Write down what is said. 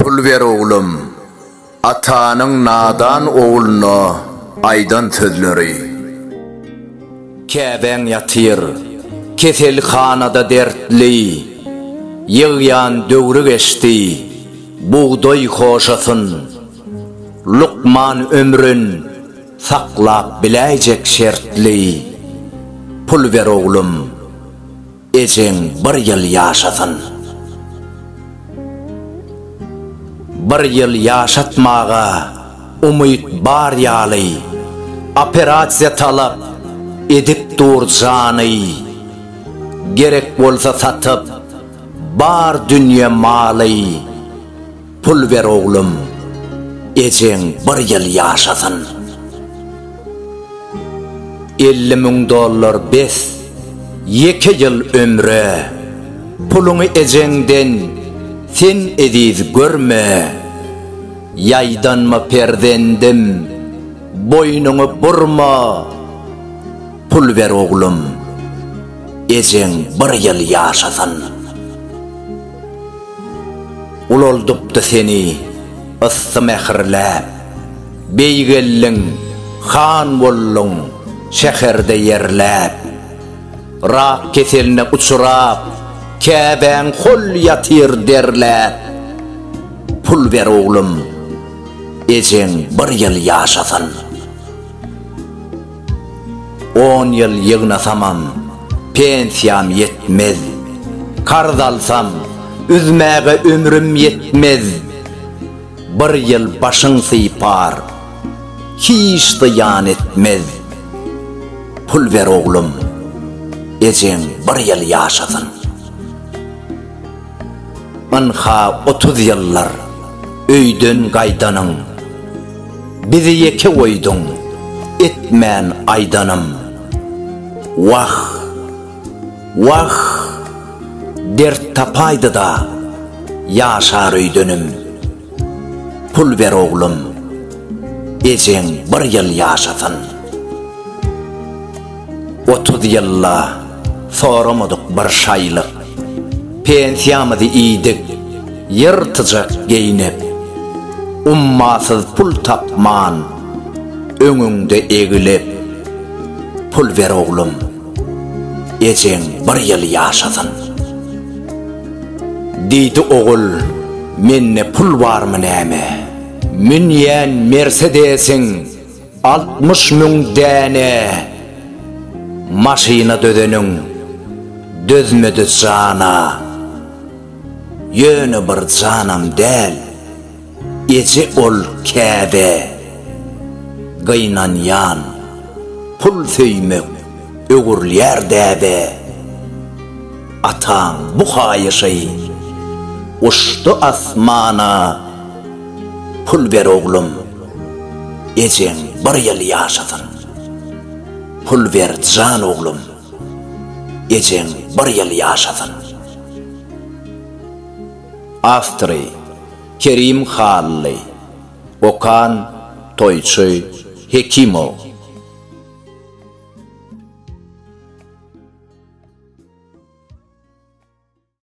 Pul ber oglum. Atanyň nadan ogluna aýdan sözleri. Käbäň ýatyr, keselhanada dertli. Ýygýan döwri geçdi, bugdaý hoşasyn. Lukman ömrün. Saklap biläýjek şertli pul ber oglum, ejeň bir ýyl ýaşasyn. Bir ýyl ýaşatmaga umyt bar ýaly, operasiýa talap edip dur jany, gerek bolsa satyp bar dünýe maly. Pul ber oglum, ejeň bir ýyl ýaşasyn. Elli müň dollar bes, ýeke ýyl ömre. Puluňy ejeňden sen eziz görme. Ýaýdanma perzendim, boýnuňy burma. Pul ber oglum, ejeň bir ýyl ýaşasyn. Ulaldypdy seni yssy mähirläp. Beý geldiň, han bolduň, şäherde ýerläp. Rak keseline uçrap, käbäň hol ýatyr derläp. Pul ber oglum, ejeň bir ýyl ýaşasyn. On ýyl ýygnasamam, pensiýam ýetmez, Karz alsam, üzmäge ömrüm ýetmez. Bir ýyl başyň sypar, hiç zyýan etmez, Pul ber oglum, ejeň bir ýyl ýaşasyn. Ynha otuz ýyldyr öýden gaýdanyň, Bizi ýeke goýduň, etmän aýdanym. Wah! Wah! Dert tapaýdy-da, ýaşar öýdenim. Pul ber oglum, ejeň bir ýyl ýaşasyn. Otuz ýylda soramadyk bir şaýlyk, Pensiýamyzy iýdik ýyrtyjak geýnip. Ummasyz pul tapman öňüňde eglip, Pul ber oglum, ejeň bir ýyl ýaşasyn. Diýdi ogul, Mende pul barmy näme? Münýän Mersedesiň Altmyş müň däne maşyna dözeniň dözmedi jana Ýöne bir janam däl eje ol käde Gynanýan pul söýmek öwrülýär däbe Ataň bu haýyşy uçdy asmana Pul ber oglum Ejeň bir ýyl ýaşasyn. Pul ber jan oglum. Ejeň bir ýyl ýaşasyn. Awtory, Kerim Hally. Okan, Toýçy Hekimow.